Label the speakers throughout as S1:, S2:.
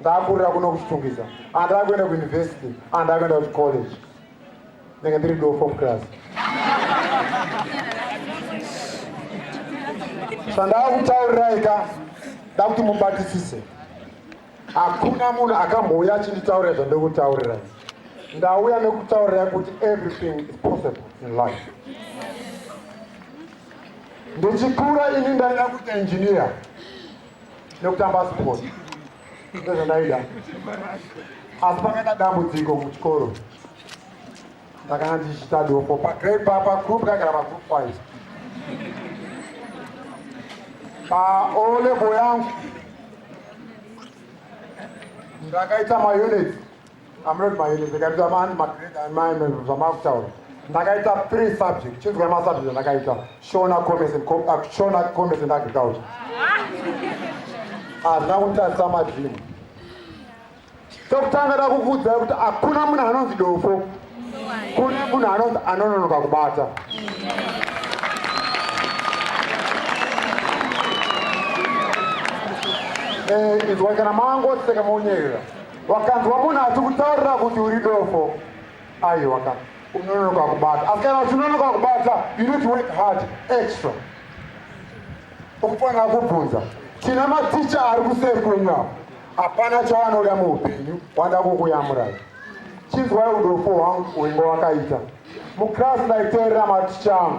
S1: Ndakurira kuno kuChitungwiza, handava kuenda kuuniversity, handava kuenda kuchicollege, ndenge ndiri dofo muclass. Zvandava kutaurirai ka dakuti mubatisise, hakuna munhu akambouya achinditaurira zvandiri kutaurirai. Ndauya nekutaurirai kuti everything is possible in life. Ndichikura ini ndaida kuita engineer nekutamba sport ndozvandaida asi pakaita dambudziko muchikoro ndakanga ndichiita dofo pagrade papa group kagara pagroup five paolebo yangu ndakaita maunits Amrod Mairi ndikaita mani magrade amai zvamakutaura ndakaita three subject chinzwa masubject andakaita shona commerce and uh, shona commerce and agriculture hazvina kunditadzisa madrimu chokutanga da kukuudzai kuti hakuna munhu anonzi dofo kune munhu anonzi anononoka kubata eh, izwai kana mangoseka monyerera wakanzwa munhu achikutaurira kuti uri dofo aiwa ka unononoka kubata asi kana uchinonoka kubata you need to work hard extra ukufanira kubvunza tina maticha ari kuseri kwenyu apo hapana chawanoda muupenyu wanda kukuyamurai chinzwai udofo hwangu wenga wakaita muclass ndaiteerera maticha angu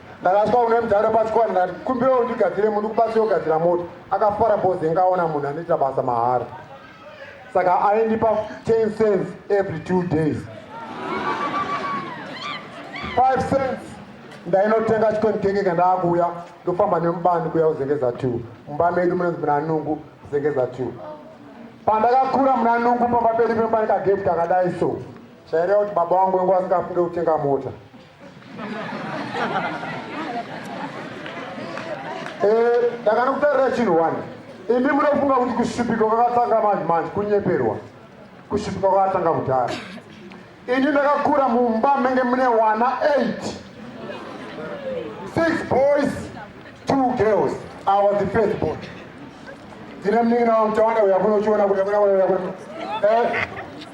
S1: ndakasva une mudhara pachikwana ndati kumbira undigadzire muti kubasa yogadzira moto akafara boze ngaona munhu anoita basa mahara saka aindipa 10 cents every two days 5 cents ndainotenga chikoni kenge kandaakuuya ndofamba nemubani kuya kuzengeza two mumba medu munonzi munanungu kuzengeza two pandakakura munanungu pamba pedu pemba nekageti kakadai so chaireva kuti baba wangu wengu asingafunge kutenga mota Eh, ndakanokutarira chinhu wani imi munofunga kuti kushupika kwakatanga manje manje kunyeperwa kushupika kwakatanga kudhara ini ndakakura mumba menge mune wana 8 six boys two girls i was the first boy ndine mningi nawa mutawanda uyakunochiona kuyakunakuyakuno eh,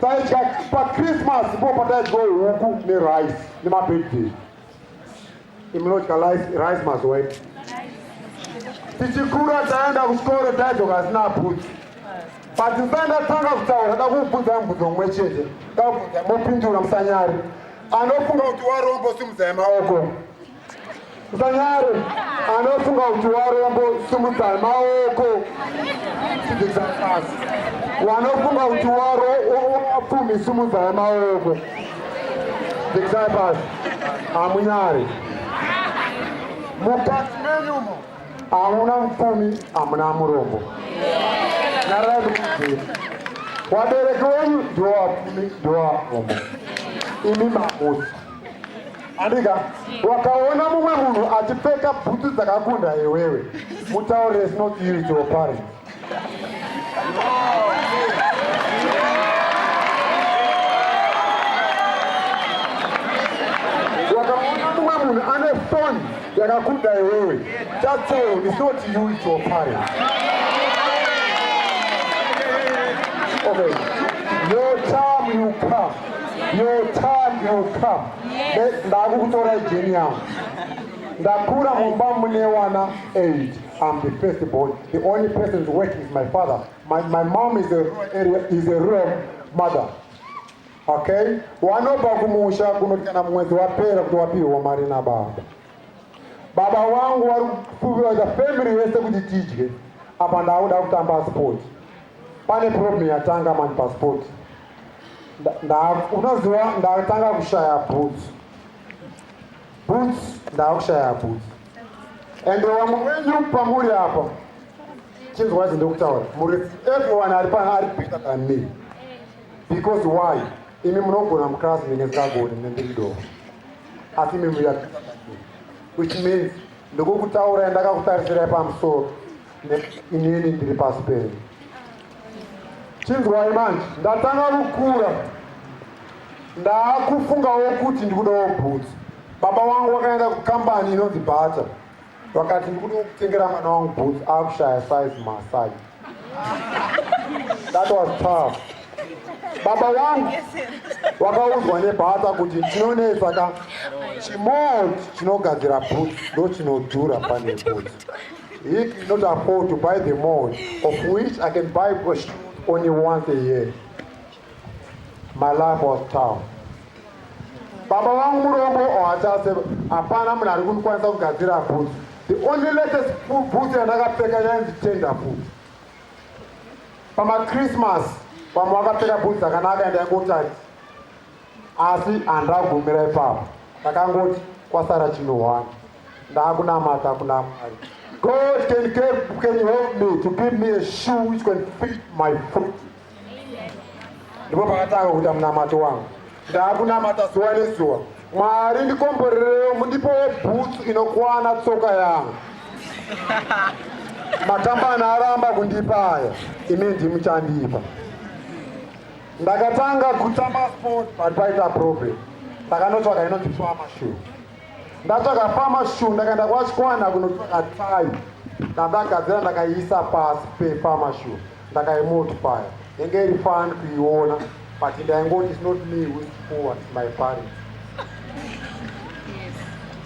S1: taidya pachristmas po pataidya huku nerice nemabirthday imunodya rice mazuva ii tichikura taenda kuchikoro taidzoka asina bhudzi but ndandatanga kutaura da kubvunza mubvunzo mumwe chete dabvunza mopindura musanyari anofunga kuti warombo simudzai maoko Musanyare anofunga kuti warombo simudzai maoko tibvisa pasi. Wanofunga kuti waro wapfumi simudzai maoko tibvisai pasi. Hamunyare mukati menyumo hamuna mupfumi hamuna murombo. Nyarai kuti wabereki wenyu ndiwo wapfumi ndiwo warombo. Imi mamusi. Andika, wakaona mumwe munhu achipfeka bhutsu dzakakunda iwewe, mutaure is not you to your parents. Wakaona mumwe munhu ane foni yakakunda iwewe, chatsewo is not you to your parents. Okay, your time will come. your time will come ndakukutora jeni yangu ndakura mumba mune wana 8 I'm the first born. The only person working is my father. My, my mom is a, is a real mother. Okay? Wanobva kumusha kunotana mwedzi wapera kuti wapihwa mari na baba. Baba wangu wari kufuviwa family yese kuti tidye. Apa ndakuda kutamba sport. Pane problem yatanga mani pasport. unoziva ndatanga kushaya boots boots ndakushaya boots and wamwe wenyu pamuri apa chinzwa izi ndokutaura muri everyone ari pana ari bigger than me because why imi munogona muclass ndinge ndisagoni nendiri doo asi imi muya which means ndokukutaura yandakakutarisira pamusoro inini ndiri pasi penyu chinzwai manje ndatanga kukura ndaakufungawo kuti ndikudawo bhutsu baba wangu wakaenda kukambani inonzi bhata vakati ndikuda kutengera mwana wangu bhutsu akushaya size masai that was tough baba wangu wakaudzwa nebhata kuti ndinonetsa ka chimot chinogadzira bhutsu ndochinodhura pane bhutsu He cannot afford to buy the mall of which I can buy bush only once a year. My life was tough. Baba vangu murombo ohatase oh, hapana munhu ari kundikwanisa kugadzira boots. The only latest boots yandakapfeka yainzi tender boots. Christmas, vamwe vakapfeka boots dzakanaka ende yangotati asi handagumira ipapo ndakangoti kwasara chinohwana ndakunamata kuna mwari god can, give, can help me to give me a shoe which can fit my foot ndipo pakatanga kuita munamato wangu ndakunamata zuva nezuva mwari ndikomborerewo mundipowo bhutsu inokwana tsoka yangu makambani aramba kundipa aya imi ndimuchandipa ndakatanga kutamba sport but paita problem ndakanotsvaga inondipiwa mashuwa ndatakafamba shu ndakaenda kwachikwana kunotsvaga tai ndandagadzira ndakaiisa pasi pefama shu ndakaimultipaya yenge iri fani kuiona but ndaingoti is not me with poor my parents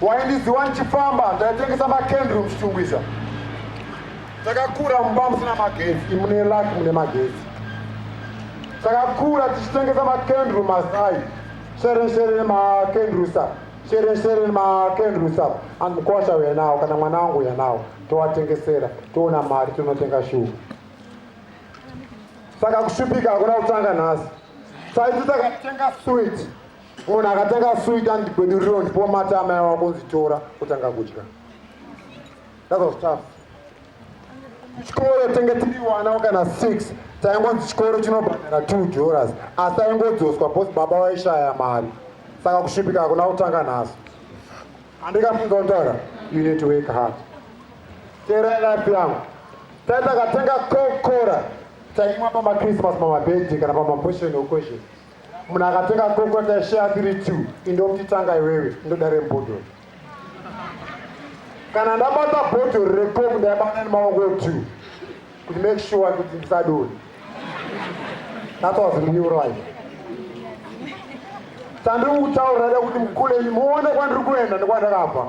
S1: waindiziwa ndichifamba ndaitengesa makendry muchitungwiza takakura mumba musina magetsi imune laki mune magetsi takakura tichitengesa makendry mazai Sharon Sharon makendrusa Sharon Sharon makendrusa andikosha uya nawo kana mwana wangu uya nawo towatengesera toona mari tinotenga shuwa saka kushupika hakuna kutanga nhasi saiti takatenga swit munhu akatenga swit andigweduriro ndipomatama yawakunzitora kutanga kudya That was tough. Chikoro tenge tiri wana kana 6 taingonzi chikoro chinobhadhara 2 joras asi aingodzoswa bos baba vaishaya mari saka kusvipika hakuna kutanga nhasi handikafunga kutaura you need to work hard teerai life yangu tai takatenga kokora taimwa pamachristmas pamabirthday kana pamapotion occasion munhu akatenga kokora taishaya tiri two indomutitanga iwewe ndodare mbodhoro kana ndabata bhodhori recoke ndaibata nemaoko two kuti make sure kuti ndisadoni that was real life chandiri kutaura da kuti mukule muone kwandiri kuenda nekwandakabva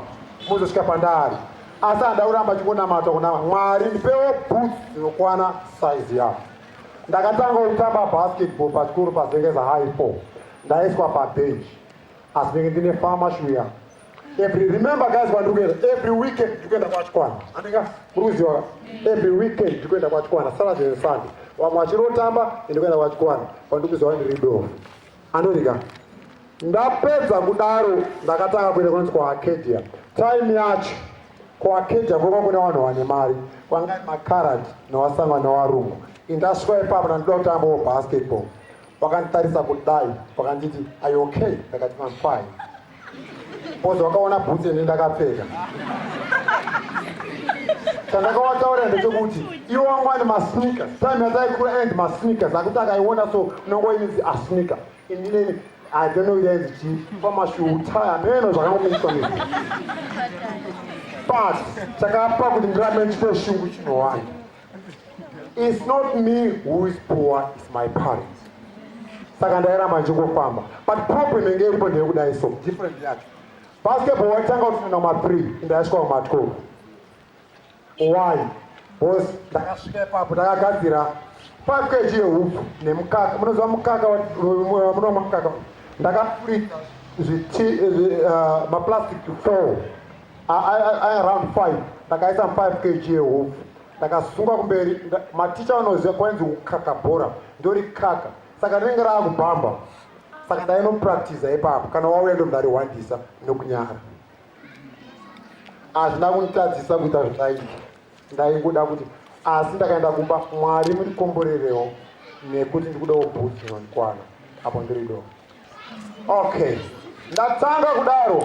S1: muzosvika pandari asi handa kuramba chingonamata kuna mwari ndipewo boots dzinokwana size yavo ndakatanga kutamba basketball pachikuru pazengeza high four ndaiswa pabench asi ndenge ndine fama shuya every remember guys vandiri kuenda every weekend ndiri kuenda kwachikwana andinga muri kuziva every weekend ndiri kuenda kwachikwana saturday and sunday vamwe vachirotamba ndiri kuenda kwachikwana vandiri kuziva ndiri dofu anodika ndapedza kudaro ndakatanga kuenda kunonzi kuarcadia time yacho kuarcadia kwova kuna vanhu vane mari kwangai macarad newasangwa newarungu indasvika ipapo ndandoda kutambawo basketball wakanditarisa kudai wakanditi are you okay ndakati I'm fine bozi wakaona bhutsi ende ndakapfeka chandakawataurira ndechekuti iwo wangu ane masneaker time yataikura and masneakers akuti akaiona so unongoinzi asneaker indineni i don't know yainzi chii pamashuhu taya meno zvakangomiswa ne but chakapa kuti ndirambe ndichite shungu chinowana It's not me who is poor, it's my parents. Saka ndairamba ndichingofamba. But problem yenge iripo ndeyekudai so different yacho. Basketball waitanga kutoenda kuma 3 ndaisvika kuma 12. Why? Boss ndakasvika ipapo ndakagadzira 5 kg yehupfu nemukaka. Munoziva mukaka munomwa mukaka. Ndakafurika zviti uh, maplastic 4 around 5 ndakaisa 5 kg yehofu ndakasunga kumberi maticha vanoziva kwainzi kukaka bhora ndori kaka saka rinenge rava kubhamba saka ndainopractiza ipapo kana wauya ndomdariwandisa nokunyara hazvina kunditadzisa kuita zvindaita ndaingoda kuti asi ndakaenda kumba mwari mundikomborerewo nekuti ndikudawo bhutsu inondikwana apo ndiri do okay ndatanga kudaro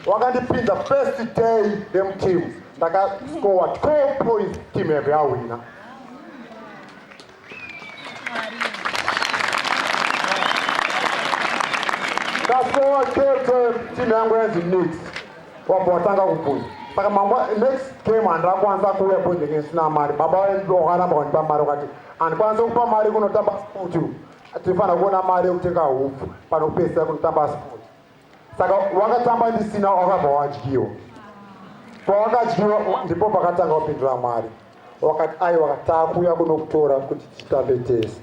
S1: wakandipinza first day demteam ndakascowa 12 points team yave yawina Kasowa chete timu yangu yanzi next. Wabva watanga kubvunza. Saka mambo next game handakwanisa kuuya bhodhi ngekuti sina mari. Baba vangu vakaramba kundipa mari vakati handikwanisa kupa mari kunotamba sport. Tinofanira kuona mari yekutenga hupfu panopedzisa kunotamba sport. saka wakatamba ndisina wakabva wadyiwa pawakadyiwa ndipo pakatanga kupindura mwari wakati ai wakatakuya kunokutora kuti titambe tese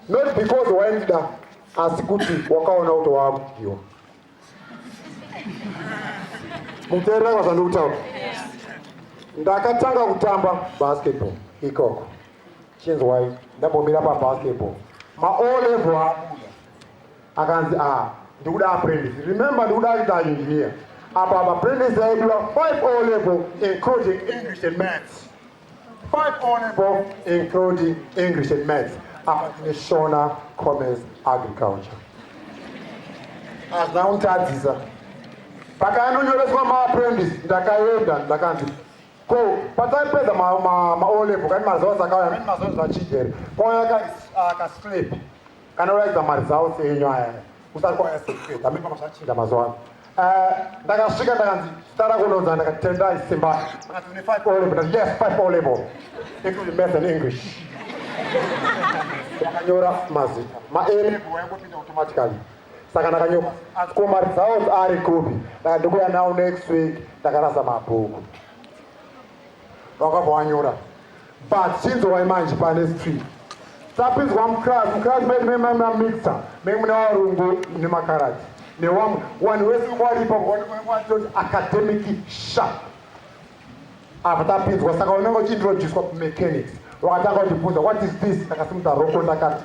S1: not because waindida asi kuti wakaona kuti waakudyiwa muteerera kwazvandikutaura ndakatanga kutamba basketball ikoko chinzwai ndambomira pabasketball maolevel abuda akanzi ah ndikuda apprentice remember ndikuda aita engineer apa apprentice aidura 5 o level including english and maths 5 o level including english and maths apa tine shona commerce agriculture hazvina kunditadzisa pakaanonyoreswa maapprentice ndakaenda ndakanzi ko pataipedza maolevo kani mazoa zakauya amene mazoa zvachigere kwauya akaslip Kana uraidza mari dzawo seenyu aya kusati kwauya sekupedza mipama zvachinja mazuva ano. Eh, ndakasvika ndakanzi zita rako unonzi ndakati Tendai Simba. Akati une five O level. Yes, five O level. Including math and English. Ndakanyora mazita. Ma A level wayangopinda automatically. Saka ndakanyora asi ko mari dzawo ari kupi? Ndakati ndikuya nawo next week ndakarasa mabhuku. vakabva wanyora but chinzo waimanje pane street tapinzwa muclass muclass medu memamamixer memune varungu nemakarati newamwe wanhu wese waripa waatoti academic sharp apa tapinzwa saka unenge uchiintroducwa kumechanics wakatanga kutibvunza what is this ndakasimuta roko ndakati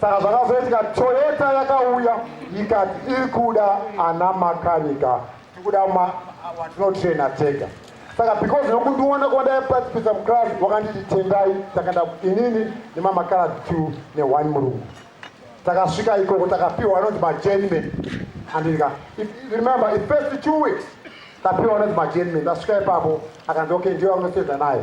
S1: Saka zvakazoitika Toyota yakauya ikati iri kuda ana makanika tikuda watinotraina tega saka because nokundiona kwandaipatsipisa muclass wakanditi tendai takaenda inini nemamakara two neone murungu takasvika ikoko takapiwa anonzi majenman andika remember ifirst two weeks tapiwa anonzi majenman tasvika ipapo akanzi okay ndiyo anoseza naye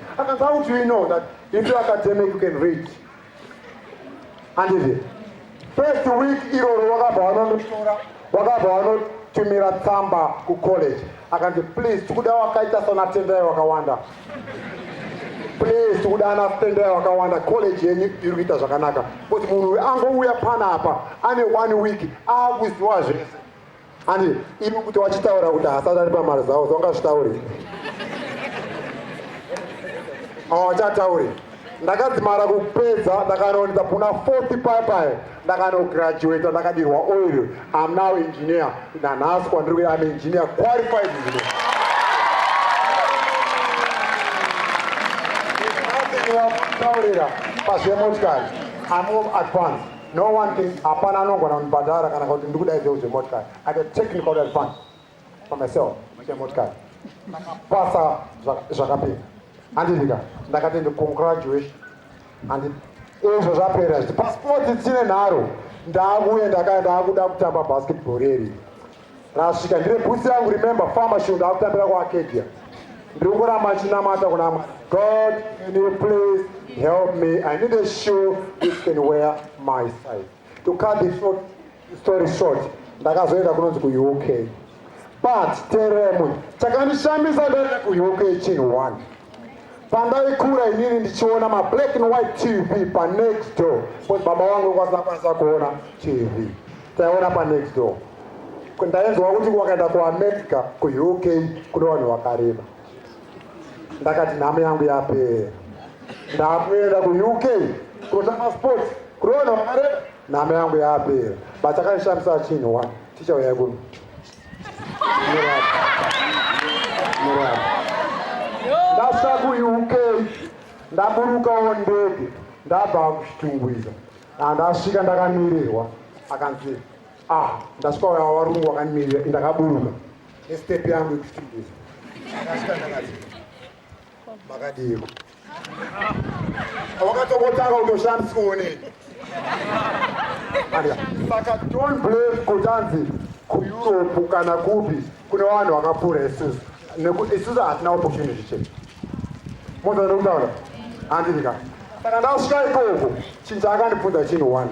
S1: akanzi how do you know that if you academic you can read handizve first week iroro wakabva wanonotora wakabva wanotumira tsamba kucollege akanzi please tikuda wakaita sana tendai wakawanda please tikuda ana tendai wakawanda college yenyu iri kuita zvakanaka but munhu angouya pana apa ane one week akuziwa zvese Andi ivi kuti wachitaura kuti hasati ari pamari zavo zvaungazvitauri awachatauri ndakadzimara kupedza ndakanoonedza kuna 4 pipayo ndakanograduata ndakadirwa oil am now engineer nanhasi kwandiri kuya am engineer qualified engineer taurira pazvemotikari amove advance No one can, hapana anogona kundibhadhara kana kuti ndikuda izveu zvemotikari. I had a technical advance for myself chemotikari. Ndakapasa zvakapinda. Handidika, ndakati ndi congratulation. Handi izvo zvapera zvichi. Pasipoti tsine nharo, ndakuye ndakaya ndakuda kutamba basketball reri. Rasvika ndine bhutsi yangu remember farmer shunga akutambira kuakedia ndiri kuramba ndichinamata kuna mwari god can you please help me i need a shoe which can wear my size to cut the short, story short ndakazoenda kunonzi kuuk but teremwe chakandishamisa ndaenda kuuk chinhu one pandaikura inini ndichiona mablack and white tv panext door bcause baba wangu kwasina kwanisa kuona tv taiona panext door ndainzwa kuti wakaenda kuamerica kuuk kune vanhu vakareba ndakati nhamo yangu yapera ndakuenda kuuk kunotanga sports kune vanhu vakareba nhamo yangu yapera but akaishandisa chinhu wa tichauya kuno ndasvika kuuk ndaburukawo ndege ndabva kuchitungwiza andasvika ndakamirirwa akanzi ah ndasvika uya warungu wakamirirwa ndakaburuka nestep yangu yekuchitungwiza ndasvika ndakati makadiiko wakatokotanga kutoshandiswa onei saka don't blame kuti anzi kueurope kana kupi kune vanhu vakapfuura isusu nekuti isusu hatina opportunity chete mozaa nekutaura handidika saka ndasvika ikoko chinhu chaakandibvunza chinhu one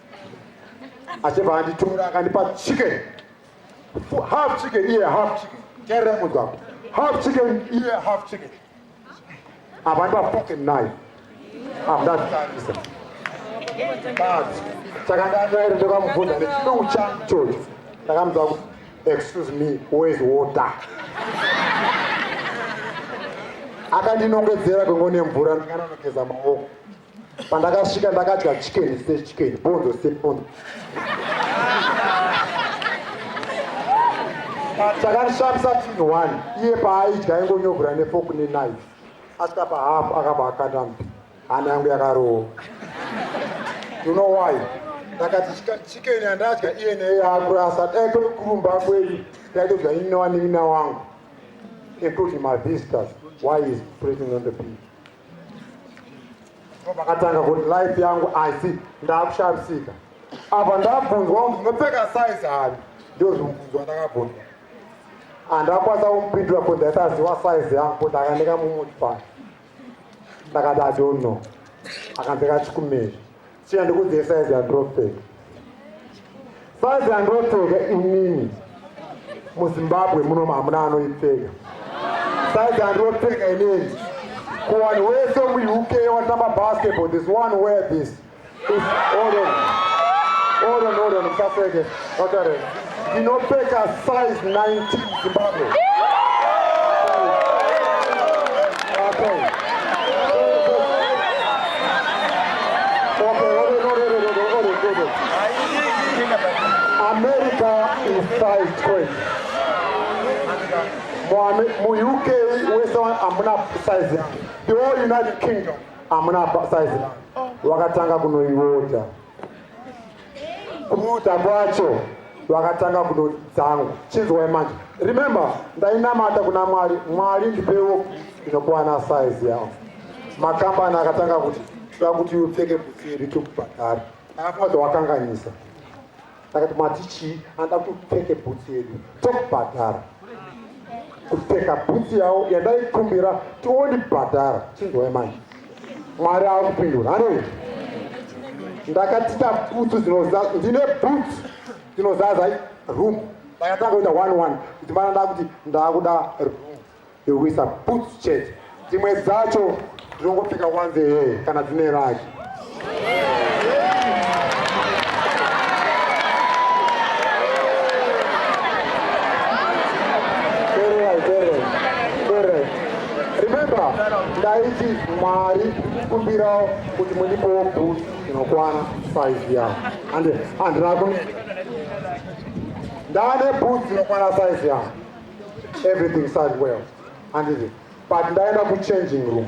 S1: achibva anditora akandipa chicken half chicken iye half chicken terera mugwagwa half chicken iye half chicken apa ndipa pocket knife apa ndatarisa but saka ndanyere ndokamubvunza nechidungu changu chocho ndakamudza kuti excuse me where's water akandinongedzera kwengone mvura ndikanonogeza maoko pandakasvika ndakadya chicken sechicken bondo sebondo chakandishamisa tin one iye paaidya aingonyogura nefoku nenaife asvika pahafu akabva akanda mbi hana yangu yakarova you know why ndakati chicken yandadya iye neye yakurasa dai kwekurumba kwedu ndaitodya ini newanin'ina wangu including my visitors why is pressing on the people vakatanga kuti life yangu asi ndakushavisika apa ndabvunzwa kuti ndinopfeka size hani ndozvimubvunzwa ndakabvunzwa handakwanisa kumupindura kuti ndaisaziva size yangu kuti akaneka mumoti pano ndakati adonno akanzeka chikumeri China ndikudzei size yandropfeka. Size yandropfeka inini muZimbabwe muno hamuna anoipfeka. Size yandropfeka inini kuwanhu wese muUK watamba basketball this one wear this. Hold on. Hold on, hold on, musaseke. Vakare, ndinopfeka size 19 Zimbabwe. America is size 20. Mu UK wese amuna size. The whole United Kingdom amuna size. Wakatanga kunoiwota. mutambo wacho vakatanga kudoti dzangu chinzwai manje remember ndainamata kuna mwari mwari ndipewo inokwana size yavo makambani akatanga kuti toda kuti upfeke butsi iri tokubhadhara afaza wakanganyisa ndakati mati chii anoda kuti upfeke butsi yedu tokubhadhara kupfeka butsi yavo yandaikumbira tiondibhadhara chinzwai manje mwari akupindura hanei ndakatita butsu dzinozaza ndine butsu dzinozaza room ndakatanga kuita one one kuti mana ndakuti ndakuda room yekuisa butsu chete dzimwe dzacho ndinongopfeka wanze hee kana dzine raki ndaiti mwari kumbirawo kuti mundipowo bus inokwana saizi yavo ande handina kune ndane bus inokwana saizi yavo everything side well handiti but ndaenda kuchanging room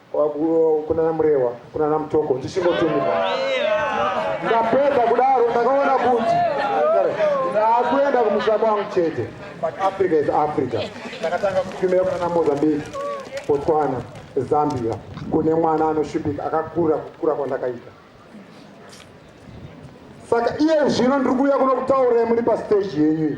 S1: kunana Murewa, kunana Mutoko, ndichingotumika. Ndapedza kudaro ndakaona kuti ndaakuenda kumusha kwangu chete, but Africa is Africa. Ndakatanga kutumira kunana Mozambique, Botswana, Zambia, kune mwana anoshupika akakura kukura kwandakaita. Saka iye zvino ndiri kuuya kuno kutaura muri pasteji yenyu iyi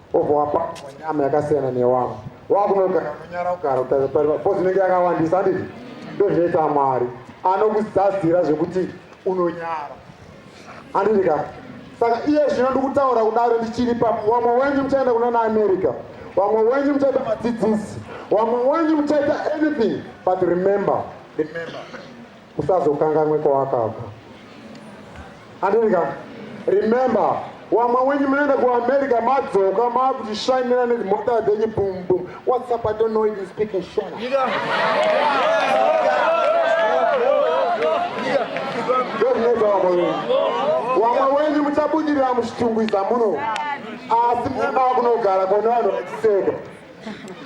S1: obva wapakwa nyama yakasiyana newavo wakunogara unonyara kugara kutarisariva bcause inenge yakawandisa anditi ndo zvinoita mwari anokuzadzira zvekuti unonyara anditi ka saka iye zvino ndikutaura kudaro ndichiri pa wamwe wenyu muchaenda kuna naamerica wamwe wenyu muchaita madzidzisi wamwe wenyu muchaita anything but remember remember usazokanganwe kwawakabva andirika remember wamwe wenyu munoenda kuamerica madzoka maakutishainira nedzimota dzenyu bumbum whatsapp i don't know if you speak in shona wamwe wenyu muchabudirira muchitungwiza muno asi munoda kunogara kone vanhu vachiseka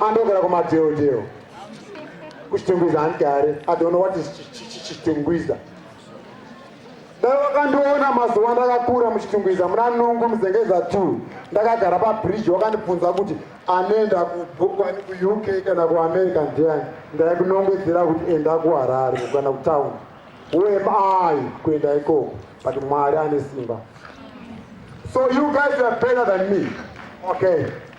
S1: andogara kumadeodeo kuchitungwiza handgare i don't know what is chitungwiza dai wakandiona mazuva ndakakura muchitungwiza muna nungu muzengeza t ndakagara pabridge wakandibvunza kuti anoenda kubokwani kuuk kana kuamerica ndiani ndaikunongedzera kuti enda kuharare kana kutown wem i kuenda ikoko but mwari ane simba so you guys are better than me okay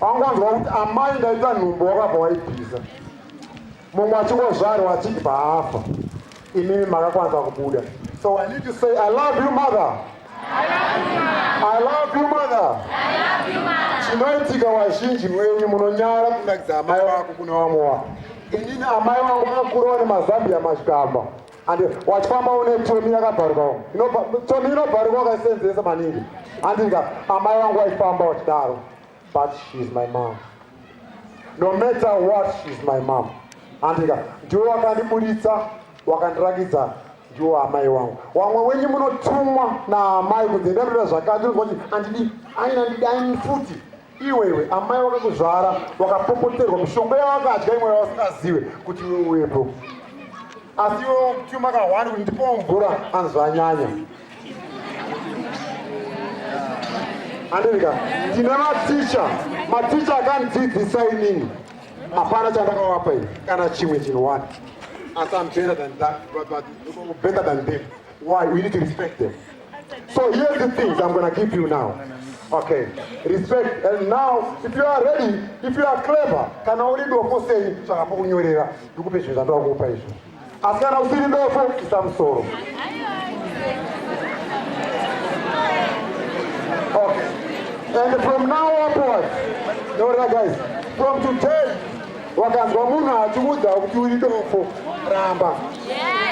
S1: angonzwa kuti amai ndaita nhumbu wakabva waibvisa mumwe achingozvarwa achibva afa imimi makakwanisa kubuda so i need to say i love you mother i love you mother chinoitika wazhinji mwenyu munonyara kunakidza amai wako kuna vamwe wako inini amai vangu vakakurawo nemazambiya machikamba and wachifamba une toni yakabharuka umu toni inobharuka wakaisenzesa maningi andinga amai vangu waifamba wachidaro but she is my mom no matter what she is my mom andinga ndiwo wakandiburitsa wakandirangidza ndiwo amai wangu wamwe wenyu munotumwa naamai kunzi ndanoita zvakati unoti andidi aina ndidi aini futi Iwewe amai wakakuzvara wakapopoterwa mushonga yawakadya imwe yawasingazive kuti iwe uwepo asi iwe chuma kahwani kuti ndipowo mvura anzvanyanya andirika ndine maticha maticha akandidzidzisa inini hapana chandakawapa ini kana chimwe chinhu one asi am better than that but, but, better than them why we need to respect them So here's the things I'm gonna give you now. Okay, respect. And now, if you are ready, if you are clever, can only do a post saying, Chakapo kunyorera, ndikupe zvinhu zvandoda kukupa izvo. Asi kana usiri dofo, isa musoro. Okay. And from now upwards, no, guys, from today, wakanzwa munhu achiudza kuti uri dofo ramba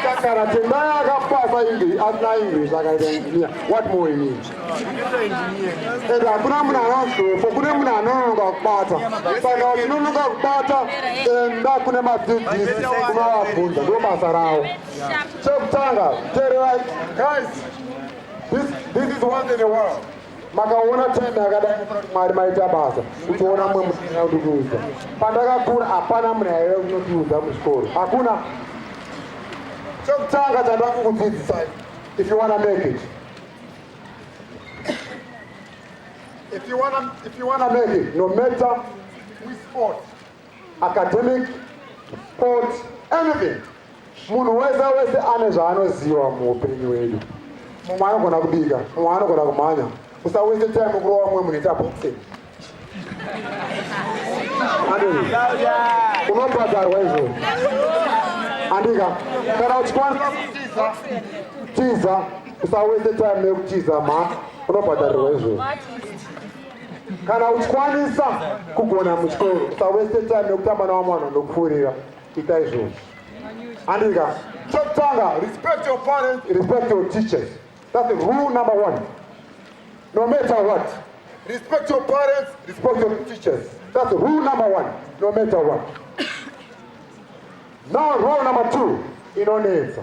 S1: kakara tendai akapasa english asina english akaita engineer what more in it and hakuna munhu anonzi dofo kune munhu anononoka kubata saka uchinonoka kubata enda kune madzidzisi unovabvunza ndo basa ravo chekutanga tererai guys this, this is one in the world makaona time yakadai kuti mwari maita basa uchiona mwe muaa ndikuudza pandakakura hapana munhu yaive kunotiudza muchikoro hakuna chokutanga chandakukudzidzisai if you wanna make it if you wanna, if you wanna make it no matter we sport academic sport anything munhu wese wese ane zvaanoziva muupenyu wedu mumwe anogona kubika mumwe anogona kumhanya usawese time kurova mumwe munhu ita boxing unobhadharwa izvo andika kana uchikwanisa kutiza tiza usawese time yekutiza mha unobhadharirwa izvo kana uchikwanisa kugona muchikoro usaweste time nekutamba nawamwe vanhu vanokupfuurira ita izvozvo andika chokutanga respect your parents respect your teachers that's the rule number one no matter what respect your parents respect your teachers that's the rule number one no matter what now rule number two inonetsa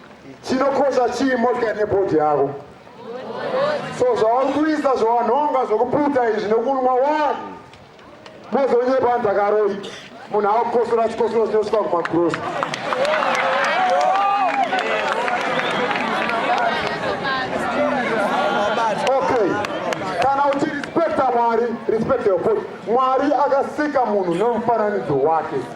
S1: chinokosha chii motikari nebhodhi yako so zvauri kuisa zvawanhonga zvokuputa izvi nokunwa wani mozonyepa nzakaroi munhu akukosora chikosoro chinosvika kumagrosa mwari respect your body mwari akasika munhu nemufananidzo wake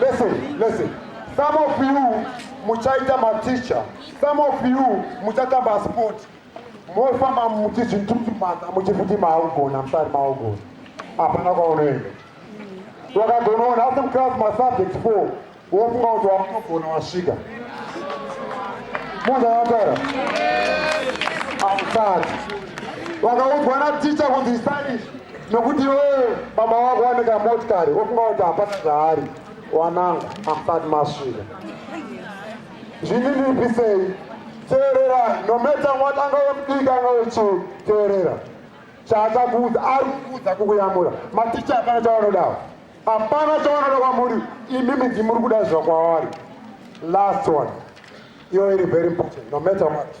S1: Listen, listen. Some of you muchaita maticha, some of you muchatamba sport. Mofamba muchizvitutumata muchifuti maugona, musari maugona. Hapana kwaunoenda. Wakagonoona asi muclass masubject 4 wofunga kuti wakunogona wasvika. Munhu akataura. Hausati. Wakaudzwa na teacher kuti study nokuti iwewe baba wako wane kamotikari wofunga kuti hapana zvaari wanangu asati masvika zvini ndipisei teerera nometa mwati anga wemudiki anga wechii teerera chaachakuudza ari kukuudza kukuyamura maticha hapana chawanodawo hapana chawanoda kwamuri imi midzi muri kuda zvakwavari last one iyo iri very important nometa mwati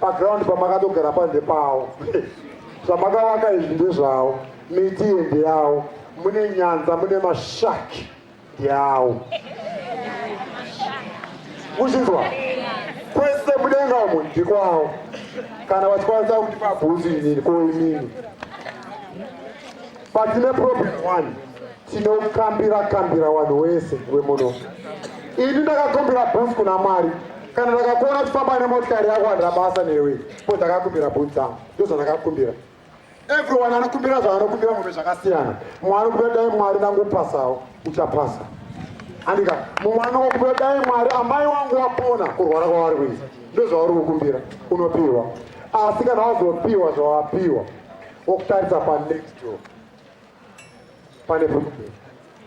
S1: Paground pamakatogara pa ndepawo. Zvamakavaka izvi ndezvawo. Miti iyi ndeyawo. Mune nyanza mune mashaki ndeyawo. Muchinzwa? Kwese mudenga umu ndikwawo. Kana vachikwanisa kuti pabhuzi inini ko inini. Patine problem one. Tinokambira kambira wanhu wese wemuno. Ini ndakakumbira bus kuna Mwari. Kana ndakakuona chifamba nemotikari yako handira basa newe. Ko ndakakumbira bus dzangu. Ndozva ndakakumbira. Everyone anokumbira zvaanokumbira mumwe zvakasiyana. Mumwe anokumbira dai Mwari nangupasawo. Uchapasa. Andika. Mumwe anokumbira dai Mwari amai wangu wapona kurwara kwavari kuisa. Ndozvauri kukumbira. Unopiwa. Asi kana wazopiwa zvawapiwa. Wokutarisa pa next door. pane problem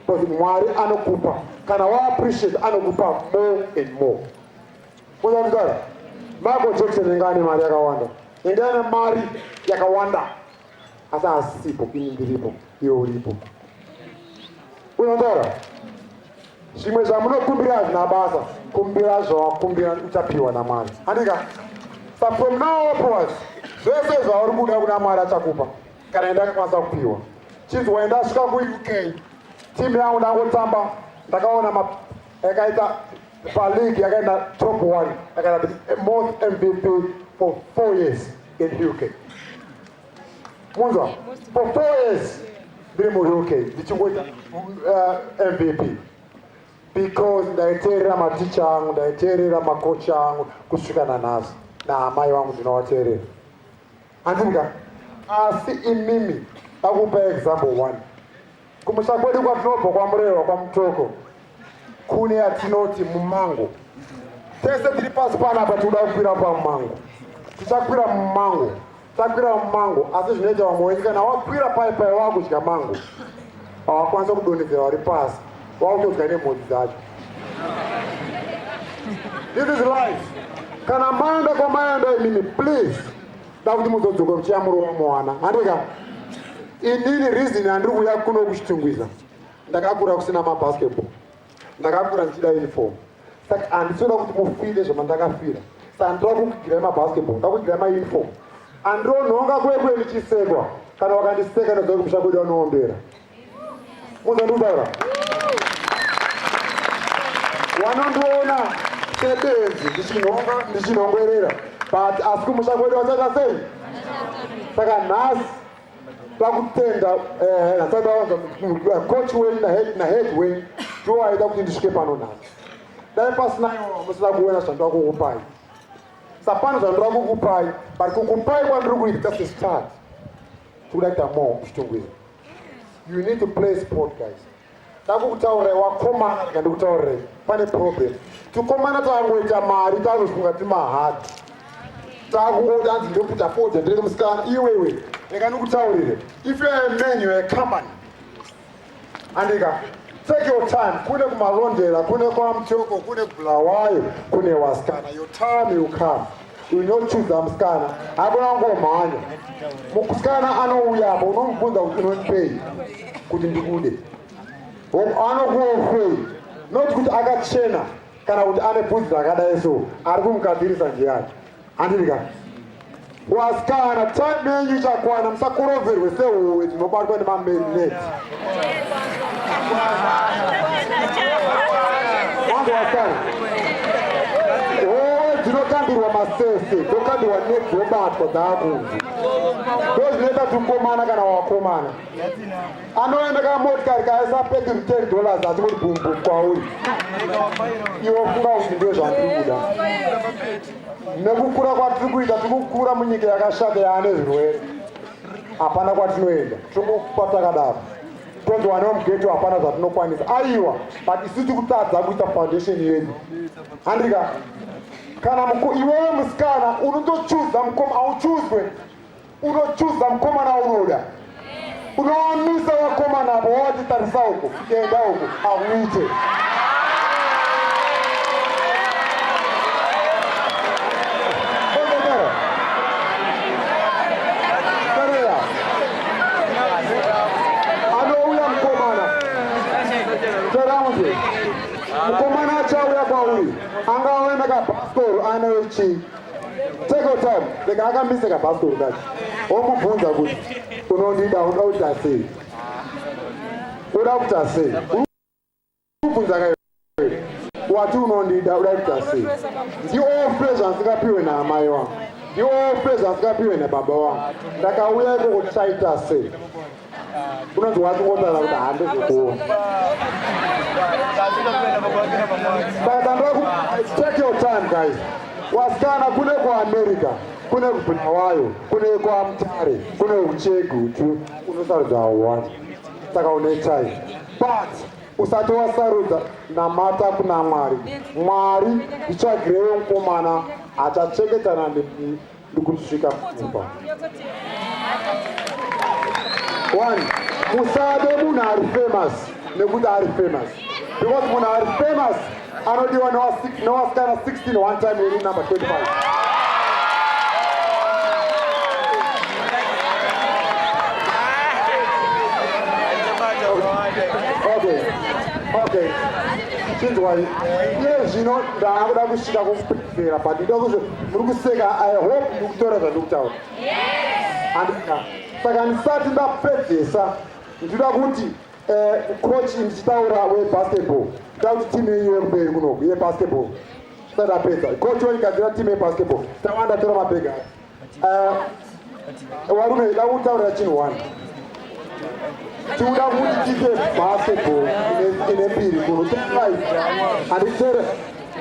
S1: because mwari anokupa kana waappreciate anokupa more and more kuzakuzara michael jackson inga ane mari yakawanda inga ane mari yakawanda asi asipo ini ndiripo iwe uripo unataura zvimwe zvamunokumbira hazvina basa kumbira zvawakumbira uchapiwa namwari anika sa from now upwards zvese zvauri kuda kuna mwari achakupa kana ndakakwanisa kupiwa chinzi waenda asvika kuuk timu yangu ndangotamba ndakaona yakaita paleague yakaenda top one yakaita most mvp for four years in uk munzwa for four years ndiri muuk ndichingoita uh, mvp because ndaiteerera maticha angu ndaiteerera makocha angu kusvika nanhasi naamai vangu ndinovateerera Handika asi imimi pakupa example one kumusha kwedu kwatinobva kwamurewa kwamutoko kune yatinoti mumango tese tiri pasi panapa tikuda kukwira pamumango tichakwira mumango takwira mumango asi zvinoita vamwe wenyu kana wakwira pai pai wakudya mango awakwanisa kudonhedzera wari pasi wakutodya nemhodzi dzacho this is life kana maenda kwamaenda imimi please da kuti muzodzoka muchiyamurova mwana handika inini reason handiri kuuya kuno kuchitungwiza ndakakura kusina mabasketball ndakakura ndichida uniform saka handisoda kuti mufire zvamandakafira sa handira kukugirai mabasketball ndakugirai mauniform andironhonga kwekwe ndichisekwa kana wakandiseka ndazoa kumusha kwedu anoombera muzonditaura wanondiona sebenzi ndichinhonga ndichinhongwerera but asi kumusha kwedu vachaita sei saka nhasi pakutenda eh, nasabawanza eh, coach wen nahead wen ndiwo aida kuti ndisvike pano nhasi dai pasina iwo musina kuona zvandoda kukupai sapano zvandoda kukupai but kukupai kwandiri kuita sesitati tikuda kuita mo kuchitongwira You need to play sport guys. Ndakukutaurira wakomana rega ndikutaurira pane problem. Tikomana tangoita mari tanofunga timahard. Takungoda hanzi ndokuda fodya ndiri musikana iwewe. Rega ndikutaurire. If you are a man you are a company. Andika. Take your time. Kune kumalondera, kune kwamchoko, kune kubulawayo, kune wasikana. Your time will come. unochuza musikana akona kungomhanya musikana anouya apo unomubvunza kuti unonipei kuti ndikude anokuofei not kuti akachena kana kuti ane bvunzi rakadai so ari kumukadzirisa njeyani handiri ka wasikana time yenyu ichakwana musakuroverwe sehowe tinobatwa nemamerineti dzinobatwa dzaakunzi ndozvinoita tukomana kana wakomana anoenda kana motikari kaisa pedi ten dollars asi kuti bumbu kwauri iwo funga kuti ndo zvandiri kuda nekukura kwatiri kuita tiri kukura munyika yakashata yaane zvirwere hapana kwatinoenda tiri kwatakadaro tonzi wana wemugeto hapana zvatinokwanisa aiwa but isu tiri kutadza kuita foundation yedu handika kana iwewe musikana unotochuza mukoma auchuzwe unochuza mukomana unoda unoamisa vakomana avo wawatitarisa uko Enda uko auite. Mukomana achauya kwauri angauya nekabaskoro anayo chii take your time rega akambise kabhasikoro kacho womubvunza kuti unondida unoita sei uda kuita sei kubvunza ka wati unondida uda kuita sei ndiofe zvandisingapiwe naamai wangu ndiofe zvandisingapiwe nababa wangu ndakauya iko kuti taita sei unonzi wati wotara kuti handizokuona take your time guys wasikana kune kuamerica kune kubulawayo kune kwamutare kune uchegu unosarudza hauwani saka unetai but usati wasarudza namata kuna mwari mwari ndichagirewo mukomana achacheketana ndikusvika mumba one musade munhu ari famous nekuti ari famous because munhu ari famous Anodiwa no six no askana 16 one time in number 25. Okay. Okay. Chinzwai. Iye zvino ndaakuda kusvika kumupedzera but ndoda kuzvo muri kuseka I hope you kutora zvandikutaura. Yes. Andika. Saka ndisati ndapedzesa ndinoda kuti Eh, coach ndichitaura webasketball ta kuti timu yenyu yekumberi kunoku yebasketball tisati apedza coach waigadzira timu yebasketball tawanda tora mabhega eh, warume da kutaurira chinhu one tikuda kuti tiite basketball ine mbiri kuno taiai handitere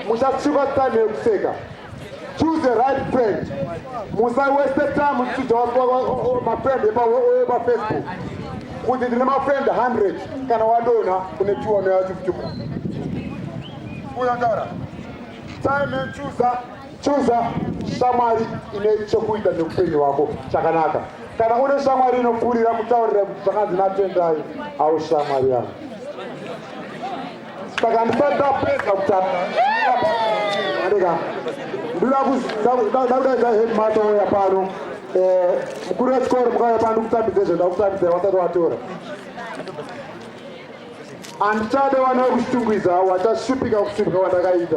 S1: muchasvika time yekuseka Choose the right friend. Musa waste time uchida mafriend epafacebook kuti ndine mafriend 100 kana wadona kune tiona yachifutuka kuyandara time and chooser chooser shamwari ine chekuita neupenyu hwako chakanaka kana une shamwari inopfuurira kutaurira kuti zvakanzi natendai awo shamwari yako Saka ndisati ndapedza kutaura andika ndoda kudakudaidza headmaster oya pano eh, mukuru wechikoro mukauya pano ndikutambidze zvendakutambidza wasati watora handichade wana wekushitungwiza wachashupika kushupika kwandakaita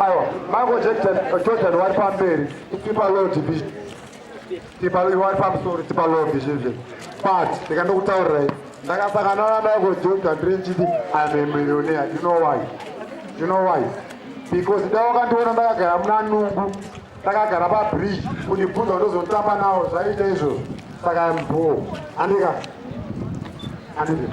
S1: Aiwa, Michael Jackson, Jordan wari pamberi, tipa low division. Tipa low, wari pamusoro, tipa low division. But, ndikandokutaurirai, ndakasangana na Michael Jordan ndiri ndichiti I'm a millionaire. Do you know why? Do you know why? Because dai wakandiona ndakagara muna nungu, ndakagara pabridge, kundibvunza ndozotamba nawo zvaiita izvozvo. Saka I'm poor. Andika. Andika.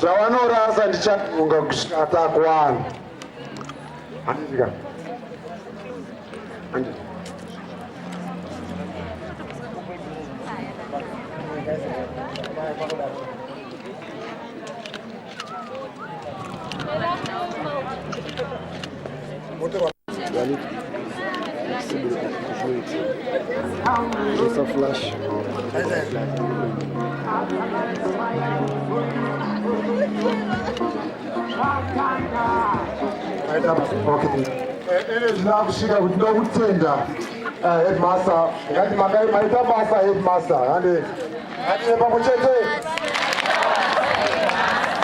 S1: zvavanorasa ndichaunga kusvika takwana handika Thank you. Inoda kusvika kuti ndokutenda headmaster ngati makai maita basa headmaster hande Ngative pamwe chete.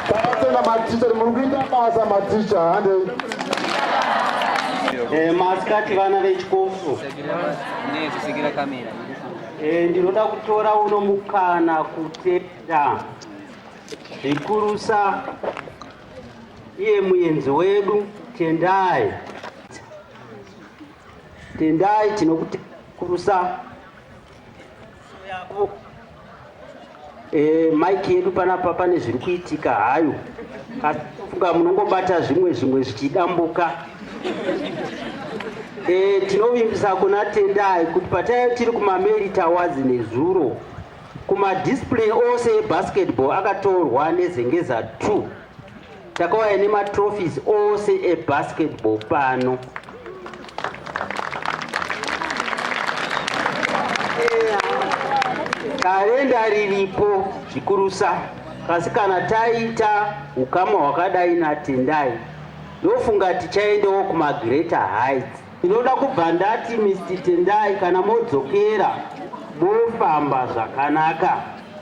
S1: Takatenda maticha muri kuita basa maticha handei. Eh, masikati vana vechikofu eh, ndinoda kutora uno mukana kutenda zvikurusa iye muenzi wedu tendai tendai tinokukurusa Eh, mike yedu panapa pane zviri kuitika hayo asi funga munongobata zvimwe zvimwe zvichidambuka e, tinovimbisa kuna tendai kuti pataive tiri kumameri tawazi nezuro kumadisplay ose ebasketball akatorwa nezengeza 2 takauya nematrophies ose ebasketball pano karenda riripo zvikurusa kasi kana taita ukama hwakadai natendai ndofunga tichaendawo kumagreater heights ndinoda kubva ndati mr tendai kana modzokera mofamba zvakanaka